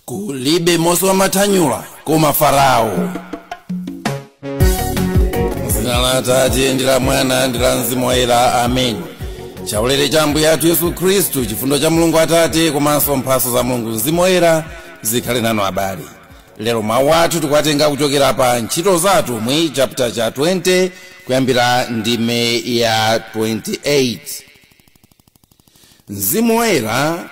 kulibe mose wamathanyula koma farao zina la atate ndi la mwana ndi la mzimu woyera amen chaulere cha ambuye athu yesu khristu chifundo cha mulungu atate komanso mphatso za mulungu mzimu woyera zikhale nanu abale lero mawu athu tikuwatenga kuchokera pa ntchito za atumwi chapter cha 20 kuyambira ndime ya 28 mzimu woyera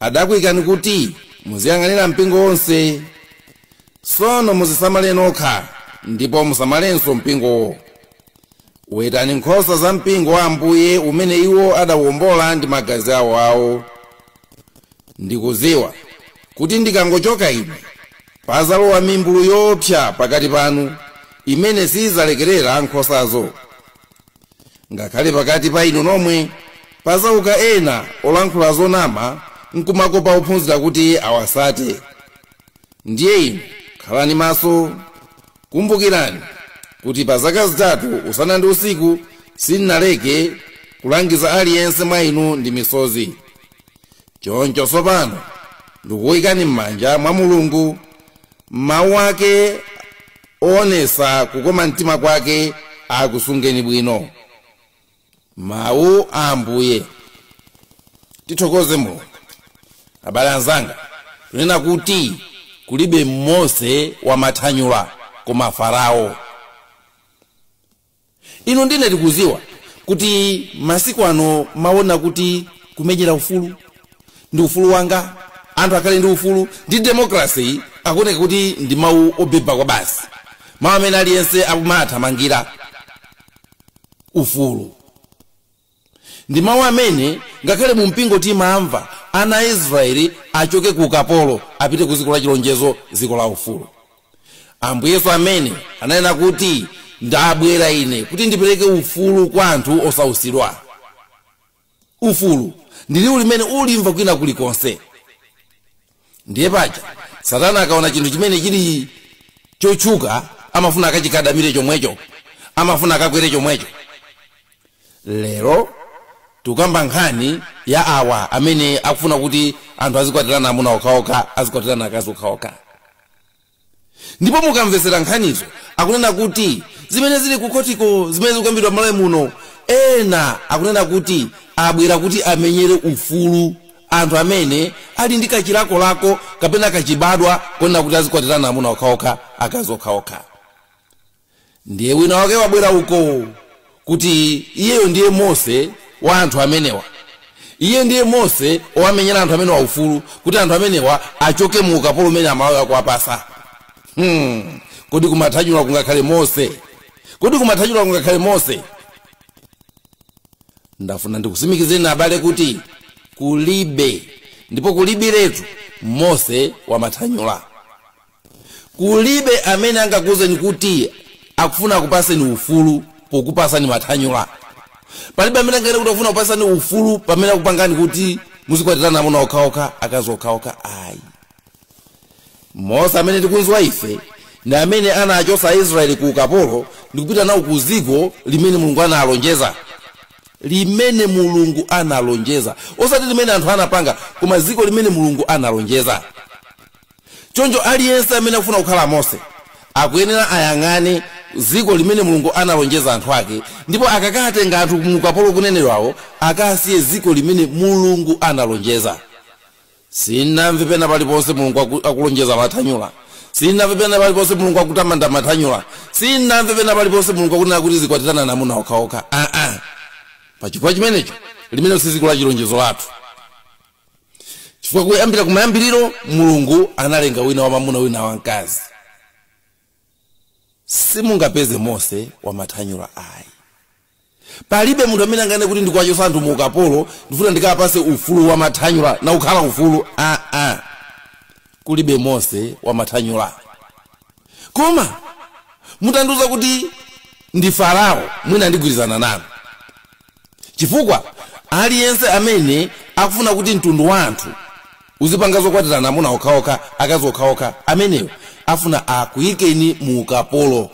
adakuikani kuti muziyang'anira mpingo wonse sono muzisamale nokha ndipo musamalenso mpingowo wetani nkhosa za mpingo wa ambuye umene iwo adawombola ndi magazi awo awo ndikuziwa kuti ndikangochoka ine pazalowa mimbulu yoopsa pakati panu imene sidzalekerera nkhosazo ngakhale pakati pa inu nomwe pazauka ena olankhula zonama nkumakopa ophunzira kuti awasate ndiye inu khalani maso kumbukirani kuti pa zaka zitatu usana ndi usiku sinnaleke kulangiza aliyense mwa inu ndi misozi choncho tsopano ndikuyikani m'manja mwa mulungu mawu ake oonesa kukoma mtima kwake akusungeni bwino mawu a ambuye tithokoze mulungu abale anzanga tunena kuti kulibe mose wamathanyula koma farao inu ndi ine tikuziwa kuti masiku ano mawu onena kuti kumenyera ufulu ndi ufulu wanga anthu akhale ndi ufulu ndi demokrasi akuoneka kuti ndi mawu obeba kwabasi mawu amene aliyense akumathamangira ufulu ndi mawu amene ngakhale mu mpingo timamva ana a israeli achoke ku ukapolo apite ku dziko la chilonjezo dziko la ufulu ambuye yesu amene ananena kuti ndabwera ine kuti ndipereke ufulu kwa anthu osausidwa ufulu ndi liwu limene ulimva kwina kulikonse ndiye paja satana akaona chinthu chimene chili chotchuka amafuna akachikadamire chomwecho amafuna akakwere chomwecho lero tikukamba nkhani ya awa amene akufuna kuti anthu azikwatirana amuna okhaokha azikwatirana akazi okhaokha ndipo mukamvesera nkhanizo akunena kuti zimene zili kukhotiko zimene zikukambidwa m'malawi muno ena akunena kuti abwera kuti amenyere ufulu anthu amene ali ndi kachilakolako kapena kachibadwa konena kuti azikwatirana amuna okhaokha akazi okhaokha ndiye wina wake wabwera uko kuti iyeyo ndiye mose wa anthu amenewa iye ndiye mose owamenyera anthu amenewa ufulu kuti anthu amenewa achoke mu ukapolo umene amalawi akuwapasa hmm. kodi kumathanyula kungakhale mose kodi kumathanyula kungakhale mose ndafuna ndikusimikizeni abale kuti kulibe ndipo kulibiretu mose wamathanyula kulibe amene angakuuzeni kuti akufuna akupaseni ufulu pokupasani mathanyula palibe amene anganene kuti akufuna kupasani ufulu pamene akupangani kuti muzikwatirana amuna okhaokha akazi okhaokha ayi mose amene tikumudziwa ife ndi amene anachotsa aisraeli ku ukapolo ndikupita nawo ku dziko limene mulungu analonjeza limene mulungu analonjeza osati limene anthu anapanga koma dziko limene mulungu analonjeza choncho aliyense amene akufuna kukhala mose akuyenera ayang'ane dziko limene mulungu analonjeza anthu ake ndipo akakatenga anthu mu ukapolo ukunenedwawo akasiye dziko limene mulungu analonjeza sinamve pena paliponse mulungu aku- akulonjeza mathanyula sinamve pena paliponse mulungu akutamanda mathanyula sinamve pena paliponse mulungu akunena kuti zikwatiranani amuna okhaokha aa pachifukwa chimenecho limenelo si dziko la chilonjezo lathu chifukwa kuyambira kumayambiriro mulungu analenga wina wamamuna wina wamkazi simungapeze mose wamathanyula ayi palibe munthu amene anganene kuti ndikuwachotsa anthu mu ukapolo ndifuna ndikawapatse ufulu wamathanyula nakukhala ufulu aa ah, ah. kulibe mose wamathanyula koma mutandiuza kuti ndi farao mwina ndigwirizana nanu Chifukwa aliyense amene akufuna kuti mtundu wa anthu uzipanga zokwatirana amuna okhaokha, akazi okhaokha, ameneyo afuna akuikeni mu ukapolo.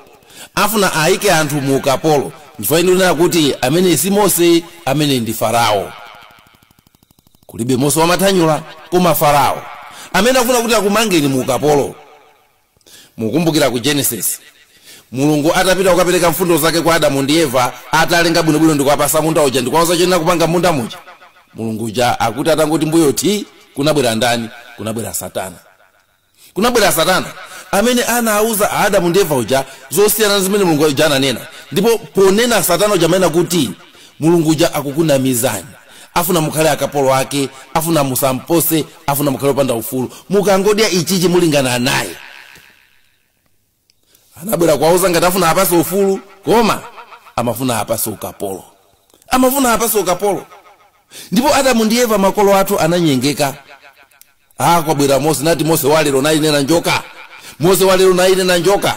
Afuna aike anthu mu ukapolo. Nchifukwa chake ndikunena kuti ameneyi si Mose, ameneyi ndi Farao. Kulibe Mose wamathanyula koma Farao amene akufuna kuti akumangeni mu ukapolo. mukumbukira ku genesis mulungu atapita kukapereka mfundo zake kwa adamu ndi eva atawalenga bwinobwino ndikuwapasa munda uja ndikuwauza choyenera kupanga munda muja mulungu uja akuti atangoti mbuyo ti kunabwera ndani kunabwera satana kunabwera satana amene anauza adamu ndi eva uja zosiyana ndi zimene mulungu uja ananena ndipo ponena satana uja amanena kuti mulungu uja akukunamizani afuna mukhale akapolo ake afuna musampose afuna mukhale opanda ufulu mukangodya ichichi mulingana naye anabwera kwauza ngati afuna apase ufulu koma amafuna apase ukapolo amafuna apase ukapolo ndipo adamu ndi eva makolo athu ananyengeka ah kwabwera mose nati mose walero nayi nena njoka mose walero nayi nena njoka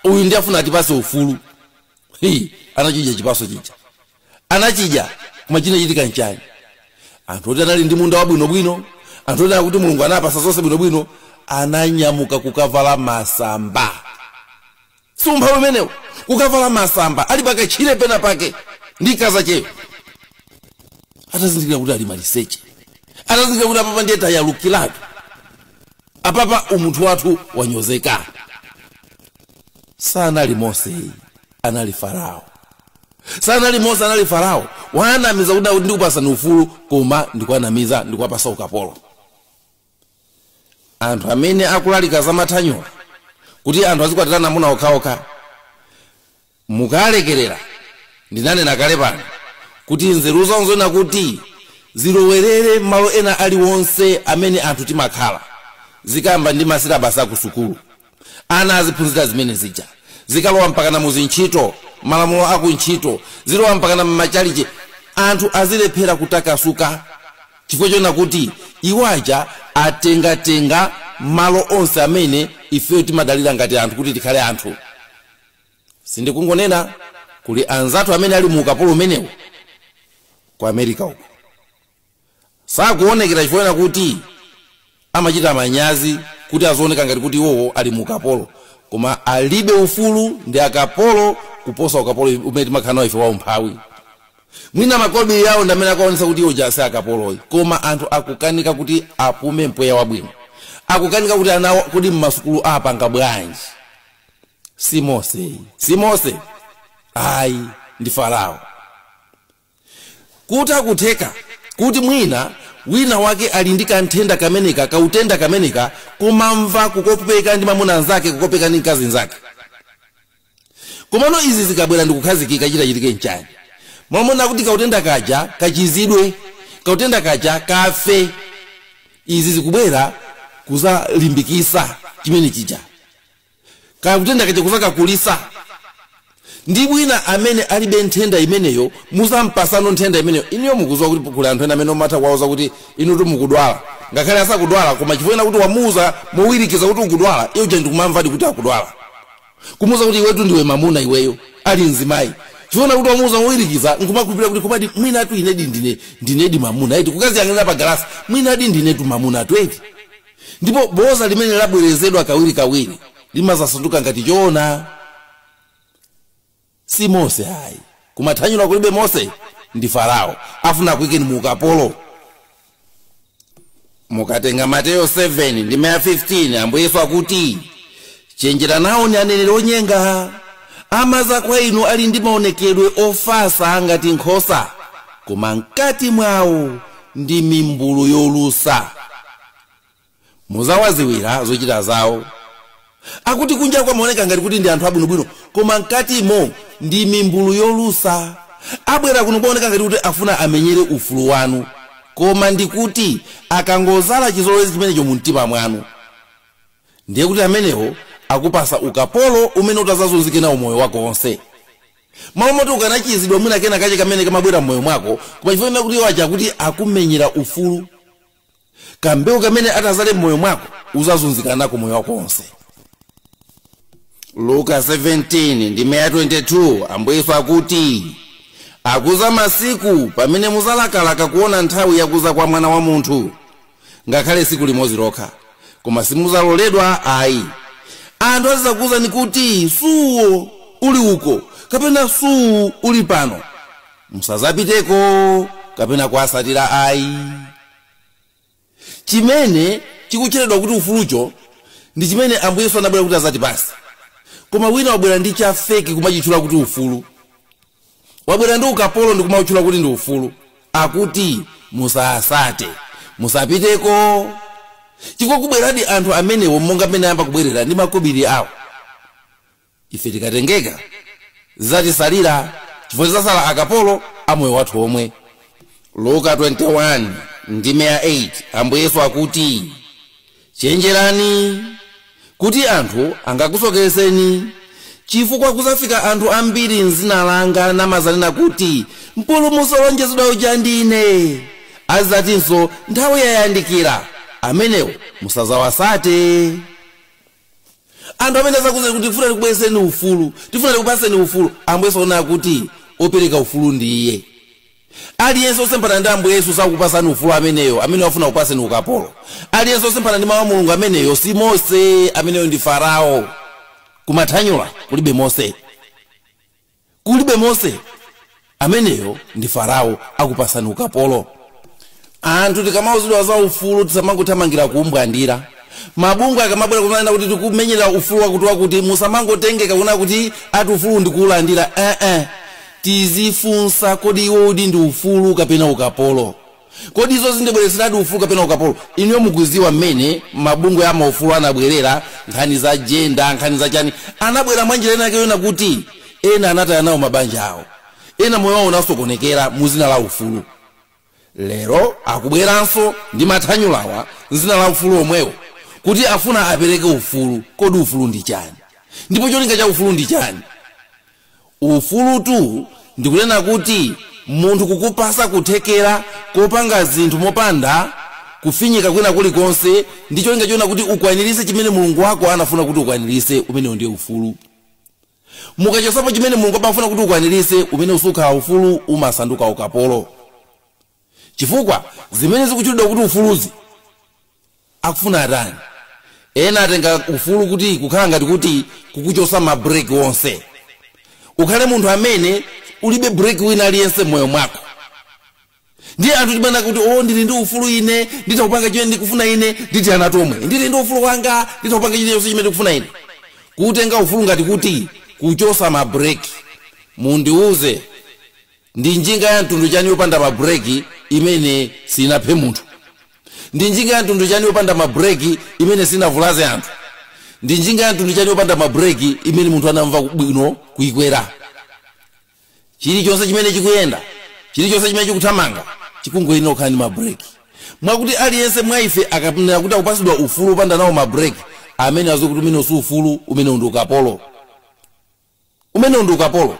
uyu ndi afuna atipase ufulu Hi, anachidya chipaso chija anachidya koma chinachitika nchani anthu oti anali ndi munda wabwinobwino anthu oti akuti mulungu anapatsa zonse bwinobwino ananyamuka kukavala masamba si umphawi umenewo kukavala masamba ali pakatchire pena pake ndi kazacheyo atazindikira kuti ali maliseche atazindikira kuti apapa ndiye tayalukiratu apapa umunthu wathu wanyozeka sanali mose anali farao sanali mose anali farao wanamiza kuti akuti ndikupasani ufulu koma ndikuwanamiza ndikuwapasa ukapolo anthu amene akulalika za mathanyula kuti anthu azikwatirana amuna okhaokha mukalekerera ndinanena kale pano kuti nzeru zonse zoona kuti zilowerere malo ena aliwonse amene anthu timakhala zikuyamba ndi masilabasi aku sukulu ana aziphunzira zimene zija zikalowa mpakana mu zintchito malamulo aku ntchito zilowa mpakana mmachalichi anthu azilephera kutakasuka chifukwa chona kuti iwo aja atengatenga malo onse amene ifeyo timadalira ngati anthu kuti tikhale anthu sindikungonena kuli anzathu amene ali mu ukapolo umenewu ku america uko sakuonekera chifukwa kuti amachita manyazi kuti azioneka ngati kuti iwowo ali mu ukapolo koma alibe ufulu ndi akapolo kuposa ukapolo umene timakhala nawo ife wa umphawi mwina makobiri yawo ndi amene akuonesa kuti iwo aja si akapolo ayi koma anthu akukanika kuti apume mpweya wabwino akukanika kuti anawo kodi mmasukulu apanga bwanji si mose ayi si mose ayi ndi farao kuti nkutheka kuti mwina wina wake ali ndi kanthenda kameneka kautenda kameneka kumamva kukopeka ndi mamuna nzake kukopeka ndi mkazi nzake komano izi zikabwera ndikukhazikika chitachitike nchani mmalo moti kautenda kaja kachizidwe kautenda kaja kafe izi zikubwera kuzalimbikisa chimene chija kaya kautenda kaja kuzakakulisa ndi wina amene alibe nthenda imeneyo muzampasanso nthenda imeneyo inuyo mukuziwa kuti kuli anthu ena amene umatha kuwauza kuti inu tu mukudwala ngakhale asakudwala koma chifukwa chonena kuti wamuuza mowirikiza kuti ukudwala iye uja ndikumamvadi kuti akudwala kumuuza kuti iwetu ndiwe mamuna iweyo ali mzimayi chifukwa kuti wamuuza mowirikiza nkumakhulupirira kuti komadi mwinatu inedi ndine ndinedi mamuna eti kukaziyang'anira pa galasi mwinadi ndinetu mamuna tu eti ndipo boza limene labwerezedwa kawirikawiri limazasanduka ngati choona si mose ayi kumathanyula kulibe mose ndi farao afuna kuikeni mu ukapolo mukatenga mateyo 7 ndime ya 15 ambuye yesu akuti Chenjera nawoni aneneri onyenga. Amadza kwa inu ali ndi maonekedwe ofatsa ngati nkhosa, koma mkati mwawo ndi mimbulu yolusa. Mudzawadziwira zochita zawo. Akuti kunjako amaoneka ngati kuti ndi anthu abwinobwino, koma mkatimo ndi mimbulu yolusa. Abwera kuno kumaoneka ngati kuti afuna amenyere ufulu wanu, koma ndi kuti akangodzala chizolowezi chimenecho mumtima mwanu. ndiye kuti amenewo akupasa ukapolo umene utazazunzike nawo moyo wako wonse malo moti ukanachizidwa mwina kena kache kamene kamabwera mmoyo mwako koma chifukwa chonena kuti iwo aja kuti akumenyera ufulu kambewu kamene atazale mmoyo mwako uzazunzika nako moyo wako wonse luka 17 ndime ya 22 ambuye yesu akuti akuza masiku pamene muzalakalaka kuona nthawi yakuza kwa mwana wa munthu ngakhale tsiku limodzi lokha koma simuzaloledwa ayi anthu azizakuwuzani kuti suyo ali uko kapena suyu ali pano musazapiteko kapena kuwasatira ayi chimene chikutchedwa kuti ufulucho ndi chimene ambuye yesu anabwera kuti azatipasa koma wina wabwera ndi chafeki kumachitchula kuti ufulu wabwera ndi ukapolo ndikumautchula kuti ndi ufulu akuti musasate musapiteko chifukwa kubweradi anthu amenewo monga mmene ayamba kubwerera ndi makobiri awo ife tikatengeka zizatisalira chifukwa tizasala akapolo a moyo wathu omwe luka 21 ndime ya 8 ambuye yesu akuti chenjerani kuti anthu angakusokeretseni chifukwa kuzafika anthu ambiri mzina langa namazanena kuti mpulumutsi olonjezedwa uja ndine azizatinso nthawi yayandikira amenewo musazawasate anthu amene azakuuzeni kuti tifuna tikubwezereni ufulu tifuna tikupaseni ufulu ambuye yesu akunena kuti opereka ufulu ndi iye aliyense osemphana ndi ambuye yesu sakupasani ufulu ameneyo ameneyo afuna kupaseni ukapolo aliyense osemphana ndi mawu a mulungu ameneyo si mose ameneyo ndi farao kumathanyula kulibe mose kulibe mose ameneyo ndi farao akupasani ukapolo anthu tikamauzidwa za ufulu tisamangothamangira kuumbwandira mabungwe akamabwera kumanena kuti tikumenyerani ufulu wakuti wakuti musamangotengeka kunena kuti ati ufulu ndikuulandira ee eh, eh. tizifunsa kodi uwowudi ndi ufulu kapena ukapolo Kodi izo zindibwereseradi ufulu kapena ukapolo? Inuyo mukuziwa mmene mabungwe a maufulu anabwerera, nkhani za jenda, nkhani za chani, anabwera mwa njira ina yake yonena kuti ena anataya nawo mabanja awo, ena moyo wawo unasokonekera mu zina la ufulu. Lero akubweranso ndi mathanyulawa m'zina la ufulu omwewo kuti afuna apereke ufulu. Kodi ufulu ndi chani? Ndipo cholinga cha ufulu ndi chani? Ufulutu ndikunena kuti munthu kukupasa kuthekera kopanga zinthu mopanda kufinyika kwina kulikonse ndi cholinga chonena kuti ukwanirise chimene mulungu wako anafuna kuti ukwanirise umenewo ndiye ufulu mukachosapo chimene mulungu amafuna kuti ukwanirise umenewo sukhala ufulu umasanduka ukapolo chifukwa zimene zikutchulidwa kuti ufuluzi akufuna atani ena atenga ufulu kuti kukhala ngati kuti kukuchosa ma break onse ukhale munthu amene ulibe break wina aliyense mmoyo mwako ndiye anthu timati o ndili ndi ufulu ine nditha kupanga chimene ndikufuna ine ndi ana omwe ndili ndi ufulu wanga nditha kupanga chilichonse chimene ndikufuna ine kutenga ufulu ngati kuti kuchosa ma break mundiuze ndi njinga ya mtundu chani yopanda mabreki imene sinaphe munthu ndi njinga ya mtundu chani yopanda mabreki imene sinavulaze anthu ndi njinga ya mtundu chani yopanda mabreki imene munthu anamva bwino kuikwera chilichonse chimene chikuyenda chilichonse chimene chikuthamanga chikuyenera kukhala ndi mabreki mwakuti aliyense mwa ife akaona kuti akupasidwa ufulu opanda nawo mabreki ameneyo aziwe kuti umenewu si ufulu umenewu ndi ukapolo Umenewu ndi ukapolo.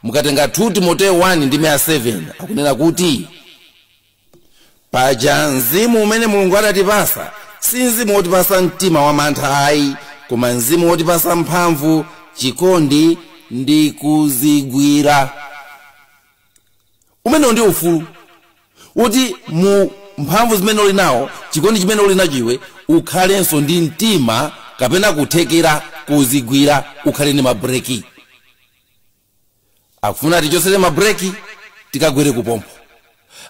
Mukatenga 2 Timoteo 1 ndime ya 7 akunena kuti, Paja mzimu umene Mulungu adatipasa si mzimu wotipasa mtima wamantha ayi, koma mzimu wotipasa mphamvu, chikondi ndi kuzigwira. Umenewu ndi ufulu, woti mu mphamvu zimene uli nazo, chikondi chimene uli nacho iwe, ukhalenso ndi mtima kapena kuthekera kozigwira, ukhale ndi ma breki. Akufuna atichosere ma breki, tikagwere kuphompho.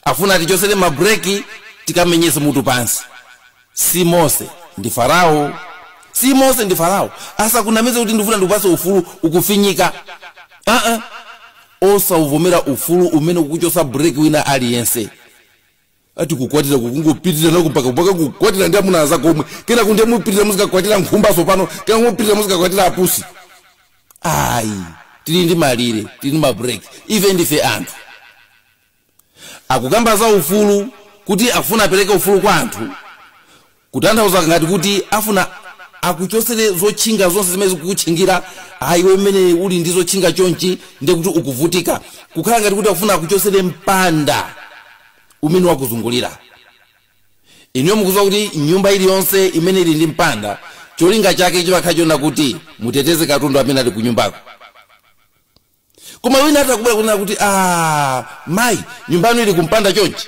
Akufuna atichosere ma breki, tikamenyese mutu pansi. si mose ndi farao si mose ndi farao asakunamize kuti ndifuna ndikupase ufulu ukufinyika aa osauvomera ufulu umene ukuchosa break wina aliyense ati kukwatira kukungopitira nako mpaka mpaka kukwatira ndi amuna anzako omwe kenaka ndiye mupitira muzikakwatira nkhumba tsopano kena mupitira muzikakwatira apusi ayi tili ndi malire tili ndi mabreak ife ndife anthu akukamba za ufulu kuti afuna apereke ufulu kwa anthu kutanthauza ngati kuti afuna akuchotsere zotchinga zonse zimene zikukutchingira ayi iwe mmene uli ndi zotchinga chonchi ndiye kuti ukuvutika kukhala ngati kuti akufuna akuchotsere mpanda umene wakuzungulira inuyo mukuziwa kuti nyumba iliyonse imene ili ndi mpanda cholinga chake chimakhala chona kuti muteteze katundu amene ali ku nyumbako koma wina atha kubwera kunena kuti a mayi nyumba yanu ili kumpanda chonchi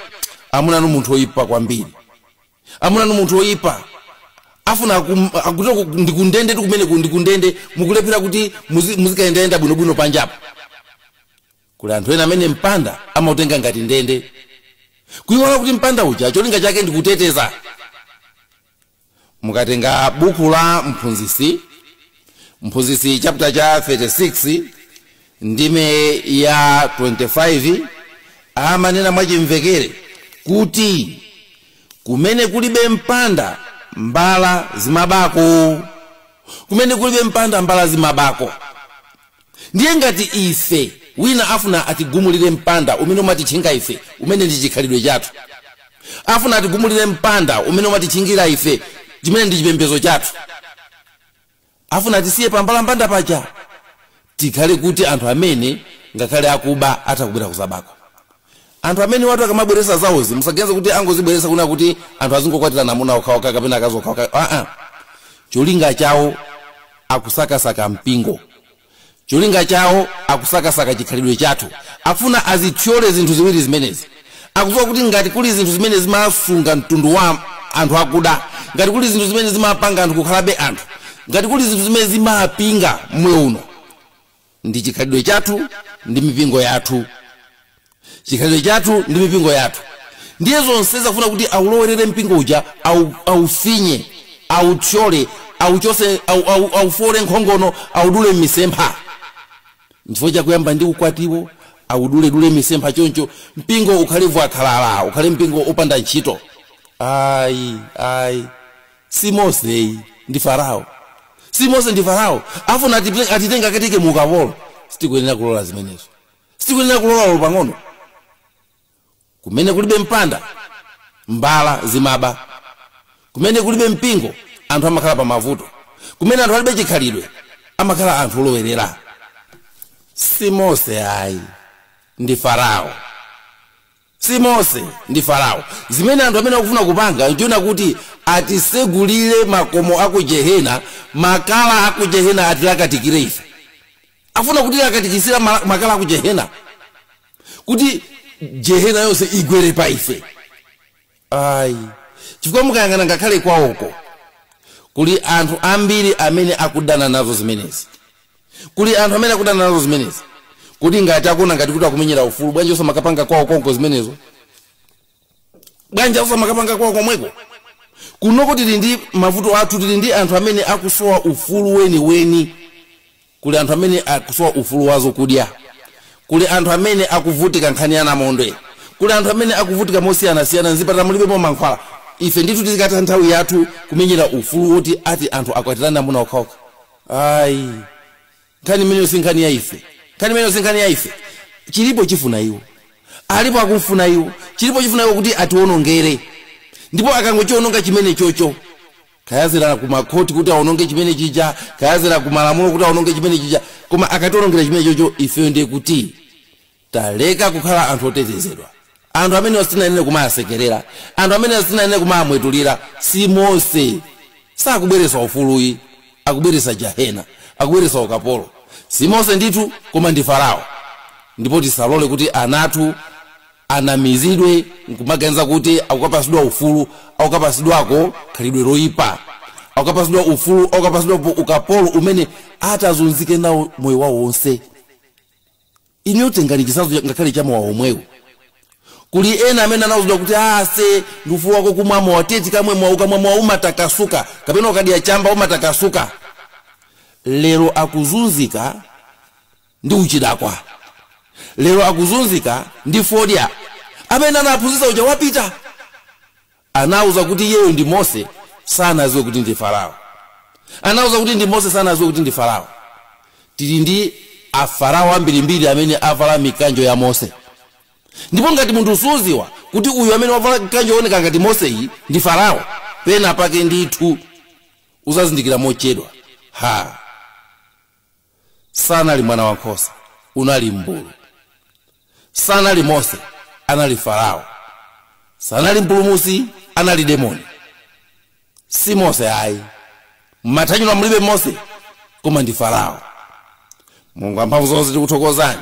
amuna anu munthu oyipa kwambiri amuna anu munthu oyipa afuna akum- akuti ku- ndikundende tu kumeneku ndikundende mukulephera kuti muzi- muzikayendayenda bwinobwino panjapo kuli anthu ena amene mpanda amautenga ngati ndende kuiwala kuti mpanda uja cholinga chake ndikuteteza mukatenga buku la mphunzitsi mphunzitsi chapter cha 36 ndime ya 25 amanena mwachimvekere kuti kumene kulibe mpanda mbala zimabako kumene kulibe mpanda mbala zimabako ndiye ngati ife wina afuna atigumulire mpanda umene umatitchinga ife umene ndi chikhalidwe chathu afuna atigumulire mpanda umene umatitchingira ife chimene ndi chipembezo chathu afuna atisiye pambalambanda paja tikhale kuti anthu amene ngakhale akuba atha kubwera kuzabako anthu amenewatu akamabweresa zawozi musaganize kuti angozibweresa kunena kuti anthu azingokwatirana amuna okhaokha kapena akazi okhaokha aa cholinga chawo akusakasaka mpingo cholinga chawo akusakasaka chikhalidwe chathu afuna azithyole zinthu ziwiri zimenezi akudziwa kuti ngati kuli zinthu zimene zimasunga mtundu wa anthu akuda ngati kuli zinthu zimene zimapanga anthu kukhalabe anthu ngati kuli zinthu zimene zimapinga moyo uno ndi chikhalidwe chathu ndi mipingo yathu chikhalidwe chathu ndi mipingo yathu ndiye zonsezi afuna kuti aulowerere mpingo uja au- aufinye authyole auchose au- au- aufoole nkhongono audule m'misempha nchifukwa chake akuyamba ndi ukwatiwo auduledule misempha choncho mpingo ukhale fwakhalala ukhale mpingo opanda ntchito ayi ayi si mose ayi ndi farao si mose ndi farao afuna atipe- atitenga akatike mu ukapolo sitikuyenera kulola zimenezo sitikuyenera kulola ulo pang'ono kumene kulibe mpanda mbala zimaba kumene kulibe mpingo anthu amakhala pa mavuto kumene anthu alibe chikhalidwe amakhala anthu olowerera si mose ayi ndi farao si mose ndi farao zimene anthu amene akufuna kupanga nchoona kuti atisegulire makomo aku jehena makala aku jehena atilakatikire ife afuna kutilakatikisira ma- makala aku jehena kuti jehena yonse igwere pa ife ayi chifukwa mukayang'ana ngakhale kwawoko kuli anthu ambiri amene akudana nazo zimenezi kuli anthu amene akudana nazo zimenezi kodi ngati akuona ngati kuti akumenyera ufulu bwanji osamakapanga kwawo konko zimenezo bwanji osamakapanga kwawo komweko kunoko tili ndi mavuto athu tili ndi anthu amene akusowa ufulu weniweni kuli anthu amene akusowa ufulu wa zokudya kuli anthu amene akuvutika nkhani ya namondwe kuli anthu amene akuvutika mosiyanasiyana mzipatala mulibemo mankhwala ife ndithu tizikatha nthawi yathu kumenyera ufulu woti ati anthu akwatirane amuna okhaokha ayi nkhani imeneyo si nkhani ya ife nkhani imeneyo si nkhani ya ife chilipo chifuna iwo alipo akumfuna iwo chilipo chifuna iwo kuti atiwonongere ndipo akangochiwononga chimene chocho kayazera ku makhoti kuti aononge chimene chija kayazera ku malamulo kuti aononge chimene chija koma akationongera chimene chocho ifeyo ndiye kuti taleka kukhala anthu otetezedwa anthu amene sitinayenera kumawasekerera anthu amene sitinayenera kumawamwetulira si mose sakubweretsa ufulu ayi akubweretsa jahena akubweretsa ukapolo si mose ndithu koma ndi farao ndipo tisalole kuti ana athu anamizidwe nkumaganiza kuti akukapasidwa ufulu akukapasidwako khalidwe loyipa akukapasidwa ufulu akukapasidwapo ukapolo umene atazunzike nawo moyo wawo wonse inuyo tengani chisazo ngakhale cha mowa womwewo kuli ena amene anawuzidwa kuti ase ndi ufulu wako kumwa mowa teti kamwe mowa ukamwa mowa umatakasuka kapena ukadya chamba umatakasuka lero akuzunzika ndi uchidakwa lero akuzunzika ndi fodya amene anawaphunzitsa uja wapita anawauza kuti iyeyo ndi mose sanaziwe kuti ndi farao anawauza kuti ndi mose sanaziwe kuti ndi farao tili ndi afarao ambirimbiri amene avala mikanjo ya mose ndipo ngati munthu usuziwa kuti uyu amene wavala mkanjo wooneka ngati moseyu ndi farao pena pake ndithu uzazindikira mochedwa ha sanali mwana wa nkhosa unali mbulu sanali mose anali farao sanali mpulumusi anali demoni si mose ayi m'mathanyula mulibe mose koma ndi farao mulungu amphamvu zonse tikuthokozani